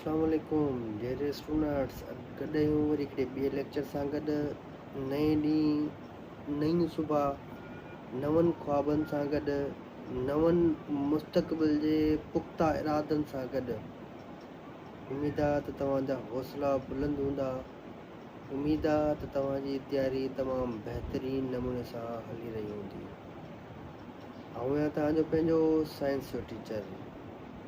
اسلام عليڪم dear students گڏ آهيون وري هڪڙي ٻئي ليڪچر سان گڏ نئين ڏينهن نئيون صبح نون خوابن سان گڏ نون مستقبل جي پختا ارادن سان گڏ اميد آ ته توهان جا حوصلا بلند هوندا اميد آ ته توهان جي تياري تمام بهترين نموني سان هلي رهي هوندي آئون آهيان توهان جو پنهنجو سائنس جو ٽيچر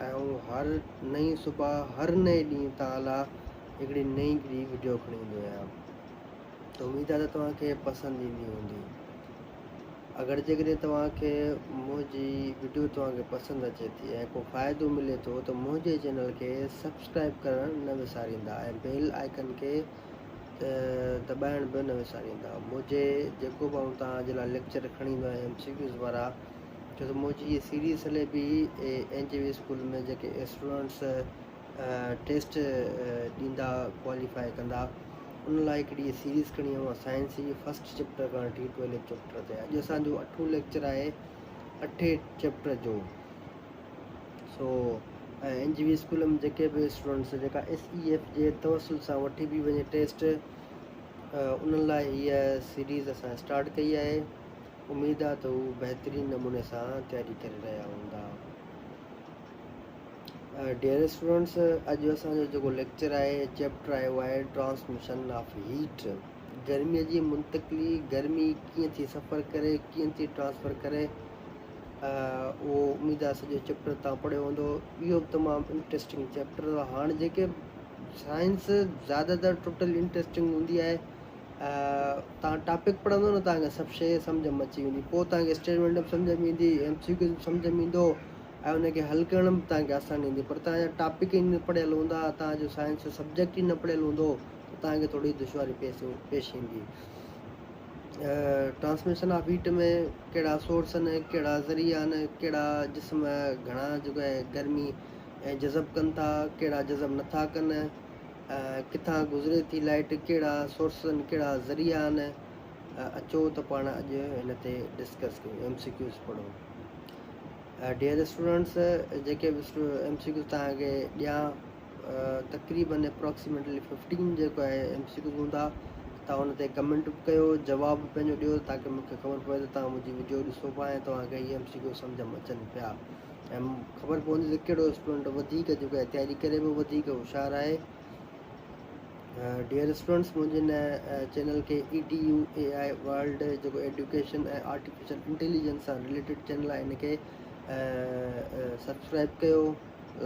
۽ هو هر نئين صبح هر نئين ڏينهن تان لا هڪڙي نئين گري وڊيو کڻي ايندو آهيان ته اميد آهي ته توهان کي پسند ايندي هوندي اگر جيڪڏهن توهان کي منهنجي وڊيو توهان کي پسند اچي ٿي ۽ ڪو فائدو ملي ٿو ته منهنجي چينل کي سبسڪرائب ڪرڻ نه وساريندا ۽ بيل آئيڪن کي دٻائڻ به نه وساريندا منهنجي جيڪو به آئون توهان جي لاء ليڪچر کڻي ايندو آهيان ايم سي ڪيوز وارا ڇو ته منهنجي هيء سيريز هلي پئي اين جي وي اسڪول ۾ جيڪي اسٽوڊنٽس ٽيسٽ ڏيندا ڪواليفاء ڪندا ان لاء هڪڙي هيء سيريز کڻي آئون سائنس جي فرسٽ چيپٽر کان وٺي ٽويلٿ چيپٽر تائين اڄ اسان جو اٺون ليڪچر آهي اٺين چيپٽر جو سو اين جي وي اسڪول ۾ جيڪي به اسٽوڊنٽس جيڪا ايس اي ايف جي توسل سان وٺي بي وڃي ٽيسٽ انهن لاء هيء سيريز اسان اسٽارٽ ڪئي آهي اميد آ ته هو بهترين نموني سان تياري ڪري رهيا هوندا. ڊيئر اسٽوڊنٽس اڄ اسان جو جيڪو ليڪچر آهي چيپٽر آهي اهو آهي ٽرانسميشن آف هيٽ گرمي جي منتقلي گرمي ڪيئن ٿي سفر ڪري ڪيئن ٿي ٽرانسفر ڪري اهو اميد آ سڄو چيپٽر تان پڙهيو هوندو اهو به تمام انٽرسٽنگ چيپٽر هاڻ جيڪي سائنس زيادہ تر ٽوٽل انٽرسٽنگ هوندي آهي توهان ٽاپڪ پڙهندو نه توهان کي سڀ شيء سمجهه ۾ اچي ويندي پوء توهان کي اسٽيٽمينٽ به سمجهه ۾ ايندي ايم سي ڪيو به سمجهه ۾ ايندو ۽ ان کي حل ڪرڻ به توهان کي آساني ايندي پر توهان جا ٽاپڪ ئي نه پڙهيل هوندا توهان جو سائنس جو سبجيڪٽ ئي نه پڙهيل هوندو ته توهان کي ٿورڙي دشواري پيس پيش ايندي ٽرانسميشن آف هيٽ ۾ ڪهڙا سورس آهن ڪهڙا ذريعا آهن ڪهڙا جسم گهڻا جو گرمي جذب ڪن ٿا ڪهڙا جذب نٿا ڪن ڪٿان گذري ٿي لائيٽ، ڪهڙا سورسز آهن، ڪهڙا ذريعا آهن، اچو ته پاڻ اڄ هن تي ڊسڪس ڪيون، ايم سي ڪيوز پڙهون. ڊيئر اسٽوڊنٽس، جيڪي به ايم سي ڪيوز توهان کي ڏيان، تقريبن اپراڪسيميٽلي ففٽين جيڪو آهي ايم سي ڪيوز هوندا، توهان ان تي ڪمينٽ به ڪيو، جواب به پنهنجو ڏيو تاڪي مون کي خبر پوي ته توهان منهنجي وڊيو ڏسو پيا ۽ توهان کي هي ايم سي ڪيوز سمجهه ۾ اچن پيا. ۽ خبر پوندي ته ڪهڙو اسٽوڊنٽ وڌيڪ جيڪو احتياجي ڪري به وڌيڪ هوشيار آهي ڊيئر اسٽوڊنٽس منهنجي هن چينل کي E D U A I world جيڪو ايڊيوڪيشن ۽ آرٽيفيشل انٽيليجنس سان رليٽيڊ چينل آهي هن کي سبسڪرائب ڪيو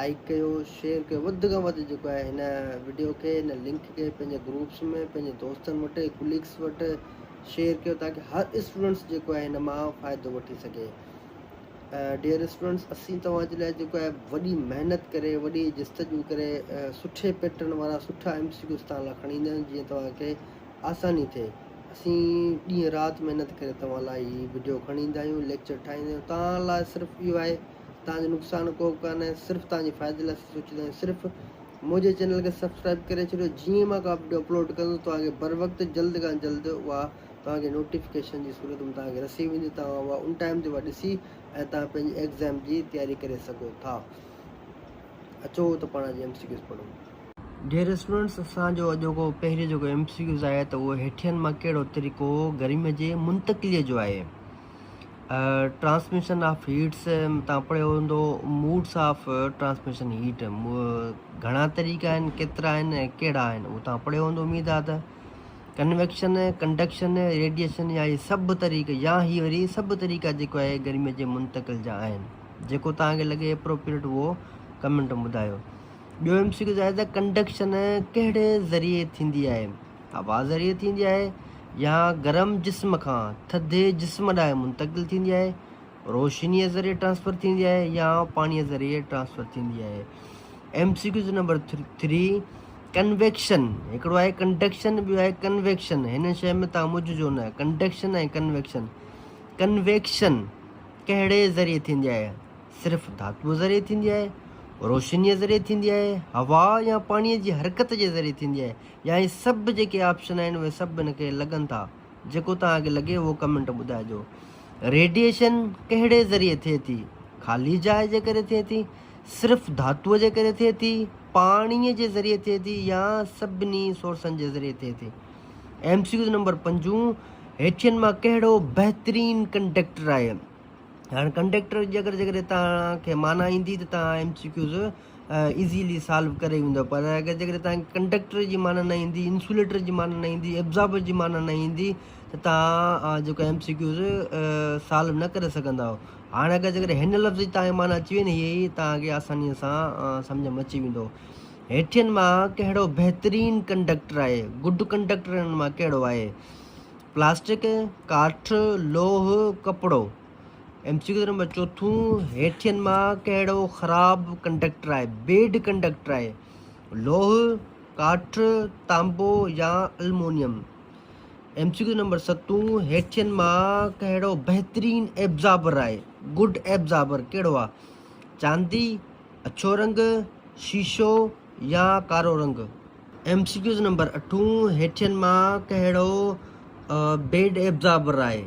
لائڪ ڪيو شيئر ڪيو وڌ کان وڌ جيڪو آهي هن ويڊيو کي هن لنڪ کي پنهنجي گروپس ۾ پنهنجي دوستن وٽ ڪليگس وٽ شيئر ڪيو تاڪي هر اسٽوڊنٽس جيڪو آهي هن مان فائدو وٺي سگهي ڊيئر اسٽوڊنٽس اسين توهان جي لاء جيڪو آهي وڏي محنت ڪري وڏي جستجو ڪري سٺي پيٽرن وارا سٺا ايم سي ڪيوز توهان لاء کڻي ايندا آهيون جيئن توهان کي آساني ٿئي اسين ڏينهن رات محنت ڪري توهان لاء هي وڊيو کڻي ايندا آهيون ليڪچر ٺاهيندا آهيون توهان لاء صرف اهو آهي توهان جو نقصان ڪو به ڪانه صرف توهان جي فائدي لاء سوچيندا آهيون صرف منهنجي چينل کي سبسڪرائب ڪري ڇڏيو جيئن مان ڪا وڊيو اپلوڊ ڪندو توهان کي بر وقت جلد کان جلد اها توهان کي نوٽيفڪيشن جي صورت ۾ توهان کي رسي ويندي توهان اها ان ٽائيم تي اها ڏسي ۽ توهان پنهنجي ايگزام جي تياري ڪري سگهو ٿا اچو ته پاڻ اڄ ايم سي ڪيوز پڙهون. ڊيئر اسٽوڊنٽس اسان جو اڄوڪو پهريون جيڪو ايم سي ڪيوز آهي ته اهو هيٺين مان ڪهڙو طريقو گرمي جي منتقليء جو آهي ٽرانسميشن آف هيٽس تان پڙهيو هوندو موڊس آف ٽرانسميشن هيٽ گهڻا طريقا آهن ڪيترا آهن ڪهڙا آهن اهو تان پڙهيو هوندو اميد آهي ته ڪنويڪشن، ڪنڊڪشن، ريڊيئيشن يا اهي سڀ طريقا يا هي وري سڀ طريقا جيڪو آهي گرمي جي منتقل جا آهن جيڪو توهان کي لڳي اپروپريٽ اهو ڪمينٽ ۾ ٻڌايو. ٻيو ايم سي ڪيو آهي ته ڪنڊڪشن ڪهڙي ذريعي ٿيندي آهي؟ هوا ذريعي ٿيندي آهي يا گرم جسم کان ٿڌي جسم ڏانهن منتقل ٿيندي آهي؟ روشنيء ذريعي ٽرانسفر ٿيندي آهي يا پاڻيء ذريعي ٽرانسفر ٿيندي آهي M C Qs number three convection هڪڙو آهي ڪنڊڪشن ٻيو آهي ڪنويڪشن هن شي ۾ تان مجھ جو نه ڪنڊڪشن ۽ ڪنويڪشن ڪنويڪشن ڪهڙي ذريعي ٿيندي آهي صرف ڌاتو ذريعي ٿيندي آهي روشنيء ذريعي ٿيندي آهي هوا يا پاڻيء جي حرڪت جي ذريعي ٿيندي آهي يا هي سڀ جيڪي آپشن آهن اهي سڀ هن کي لڳن ٿا جيڪو توهان کي لڳي اهو ڪمينٽ ٻڌائجو. ريڊيئيشن ڪهڙي ذريعي ٿئي ٿي؟ خالي جاء جي ڪري ٿئي ٿي؟ صرف ڌاتوء جي ڪري ٿئي ٿي؟ پاڻيء جي ذريعي ٿئي ٿي يا سڀني سورسن جي ذريعي ٿئي ٿي؟ ايم سي ڪيوز نمبر پنجون، هيٺين مان ڪهڙو بهترين ڪنڊيڪٽر آهي؟ هاڻ ڪنڊيڪٽر جي اگر جيڪڏهن توهان کي معنيٰ ايندي ته توهان M C Qs easily solve ڪري ويندو پر اگر جيڪڏهن تهان کي ڪنڊڪٽر جي معنيٰ نه ايندي انسوليٽر جي معنيٰ نه ايندي ابزاربر جي معنيٰ نه ايندي ته تهان جيڪو ايم سي ڪيوز سالو نه ڪري سگهندا هاڻي اگر جيڪڏهن هن لفظ جي تهان کي معنيٰ اچي وئي نه هيء ئي تهان کي آسانيء سان سمجهه ۾ اچي ويندو هيٺين مان ڪهڙو بهترين ڪنڊڪٽر آهي گڊ ڪنڊڪٽر هنن مان ڪهڙو آهي پلاسٽڪ ڪاٺ لوهه ڪپڙو ايم سي ڪيو نمبر چوٿون هيٺين مان ڪهڙو خراب ڪنڊڪٽر آهي بيڊ ڪنڊڪٽر آهي لوه ڪاٺ تانبو يا aluminium M C Q number ستون هيٺين مان ڪهڙو بهترين ايبزابر آهي گڊ ايبزابر ڪهڙو آهي چاندي اڇو رنگ شيشو يا ڪارو رنگ ايم سي ڪيوز نمبر اٺون هيٺين مان ڪهڙو بيڊ ايبزابر آهي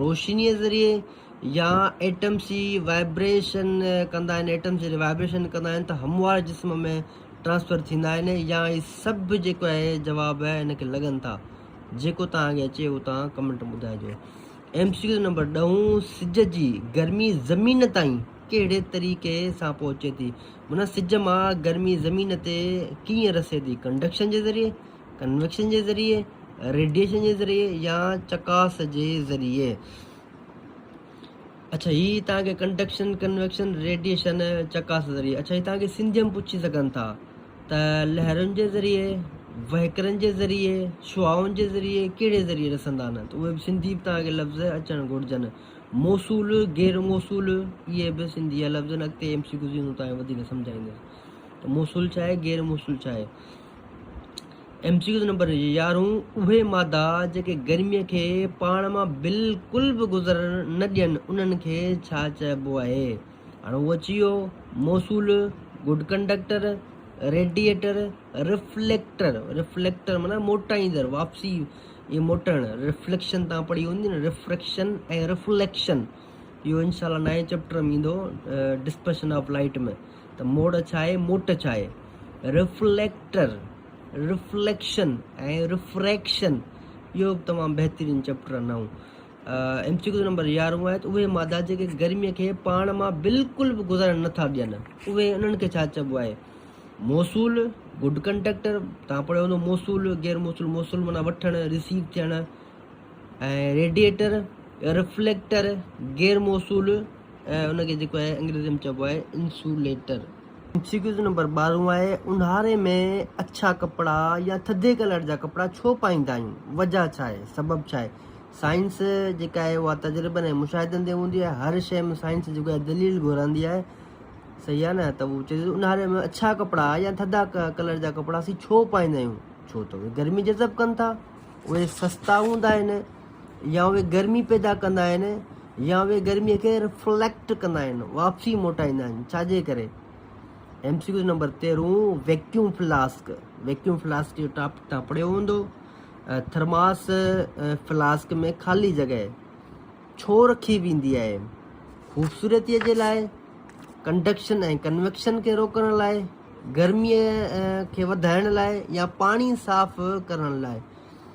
روشنيء ذريعي يا ايٽمس جي وائبريشن ڪندا آهن، ايٽمس جڏهن وائبريشن ڪندا آهن ته هموار جسم ۾ ٽرانسفر ٿيندا آهن يا هي سڀ جيڪو آهي جواب هن کي لڳن ٿا. جيڪو توهان کي اچي اهو توهان ڪمينٽ ۾ ٻڌائجو. ايم سي ڪيو نمبر ڏهون سج جي گرمي زمين تائين ڪهڙي طريقي سان پهچي ٿي؟ معنيٰ سج مان گرمي زمين تي ڪيئن رسي ٿي؟ ڪنڊڪشن جي ذريعي، ڪنويڪشن جي ذريعي، ريڊيئيشن جي ذريعي يا چڪاس جي ذريعي. اڇا هي توهان کي ڪنڊڪشن، ڪنويڪشن، ريڊيئيشن، چڪاس ذريعي اڇا هي توهان کي سنڌيء ۾ پڇي سگهن ٿا ته لهرن جي ذريعي، وهڪرن جي ذريعي، شعائن جي ذريعي، ڪهڙي ذريعي رسندا آهن ته اهي به سنڌي به توهان کي لفظ اچڻ گهرجن. موصول، غير موصول اهي به سنڌي جا لفظ آهن اڳتي ايم سي ڪيوز ايندو توهان کي وڌيڪ سمجهائيندس ته موصول ڇا آهي غير موصول ڇا آهي. ايم سي ڪيو نمبر يارهون، اهي مادا جيڪي گرمي کي پاڻ مان بلڪل به گذر نه ڏين انهن کي ڇا چئبو آهي؟ هاڻ هو اچي ويو موصول، good conductor, radiator, reflector, reflector معنيٰ موٽائيندڙ، واپسي ۽ موٽڻ، رفليڪشن توهان پڙهي هوندي نه رفريڪشن ۽ رفليڪشن اهو انشاء الله نائين چئپٽر ۾ ايندو ڊسپرشن آف لائٽ ۾. ته موڙ ڇا آهي، موٽ ڇا آهي. رفليڪٽر، رفليڪشن ۽ رفريڪشن اهو به تمام بهترين چئپٽر آهن نئون ايم سي ڪيو جو نمبر يارهون آهي ته اهي مادا جيڪي گرمي کي پاڻ مان بلڪل به گذرڻ نه ٿا ڏين اهي انهن کي ڇا چئبو آهي موصول گڊ ڪنڊڪٽر تان پڙهيو هوندو موصول غير موصول موصول معنيٰ وٺڻ رسيو ٿيڻ ۽ ريڊيئيٽر رفليڪٽر غير موصول ۽ ان کي جيڪو آهي انگريزيء ۾ چئبو آهي insulator. M C Qs number ٻارهون آهي، اونهاري ۾ اڇا ڪپڙا يا ٿڌي ڪلر جا ڪپڙا ڇو پائيندا آهيون؟ وجهه ڇا آهي؟ سبب ڇا آهي؟ سائنس جيڪا آهي اها تجربن ۽ مشاهدن تي هوندي آهي. هر شيء ۾ سائنس جيڪو آهي دليل گهرندي آهي. صحيح آهي نه؟ ته هو چئي ٿو ته اونهاري ۾ اڇا ڪپڙا يا ٿڌا ڪلر جا ڪپڙا اسين ڇو پائيندا آهيون؟ ڇو ته اهي گرمي جذب ڪن ٿا. اهي سستا هوندا آهن. يا اهي گرمي پيدا ڪندا آهن يا اهي گرمي کي رفليڪٽ ڪندا آهن، واپسي موٽائيندا آهن، ڇا جي ڪري؟ ايم سي ڪيو نمبر تيرهون ويڪيوم فلاسڪ، ويڪيوم فلاسڪ جو ٽاپڪ تان پڙهيو هوندو، ٿرماس فلاسڪ ۾ خالي جڳهه ڇو رکي ويندي آهي؟ خوبصورتي جي لاء، ڪنڊڪشن ۽ ڪنويڪشن کي روڪڻ لاء، گرمي کي وڌائڻ لاء يا پاڻي صاف ڪرڻ لاء.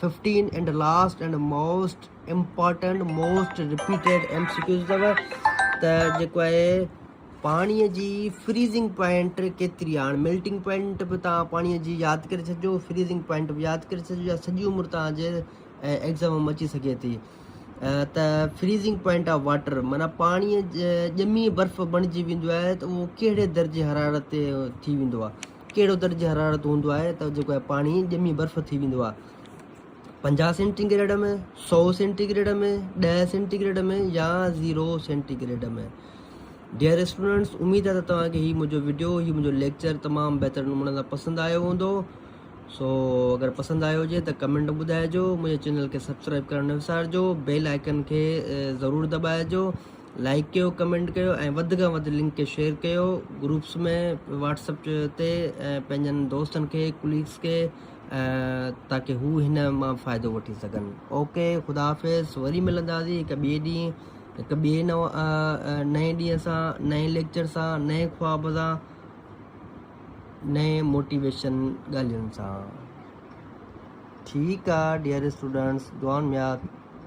Fifteen and last and most important most repeated M C Qs اٿو ته جيڪو آهي پاڻي جي فريزنگ پوائنٽ ڪيتري آهي ميلٽنگ پوائنٽ به تان پاڻي جي ياد ڪري ڇڏجو فريزنگ پوائنٽ به ياد ڪري ڇڏجو يا سڄي عمر تان جي ايگزام ۾ اچي سگهي ٿي ته فريزنگ پوائنٽ آف واٽر مانا پاڻي ڄمي برف بڻجي ويندو آهي ته اهو ڪهڙي درجي حرارت تي ٿي ويندو آهي ڪهڙو درجه حرارت هوندو آهي ته جيڪو آهي پاڻي ڄمي برف ٿي ويندو آهي پنجاهه سينٽي گريڊ ۾ سؤ سينٽي گريڊ ۾ ڏهه سينٽي گريڊ ۾ يا zero centigrade ۾ dear students اميد آهي ته توهان کي هي منهنجو ويڊيو هي منهنجو ليڪچر تمام بهتر نموني سان پسند آيو هوندو سو اگر پسند آيو هجي ته ڪمنٽ ٻڌائجو منهنجي چينل کي سبسڪرائب ڪرڻ نه وسارجو بيل آئڪن کي ضرور دٻائجو لائيڪ ڪيو ڪمينٽ ڪيو ۽ وڌ کان وڌ لنڪ کي شيئر ڪيو گروپس ۾ واٽس اپ تي ۽ پنهنجن دوستن کي ڪليگس کي تاڪي هو هن مان فائدو وٺي سگهن اوڪي خدا حافظ وري ملنداسي هڪ ٻئي ڏينهن هڪ ٻئي نو نئين ڏينهن سان نئين ليڪچر سان نئين خواب سان نئين موٽيويشن ڳالهين سان ٺيڪ آ ڊيئر اسٽوڊنٽس دعائن ۾ ياد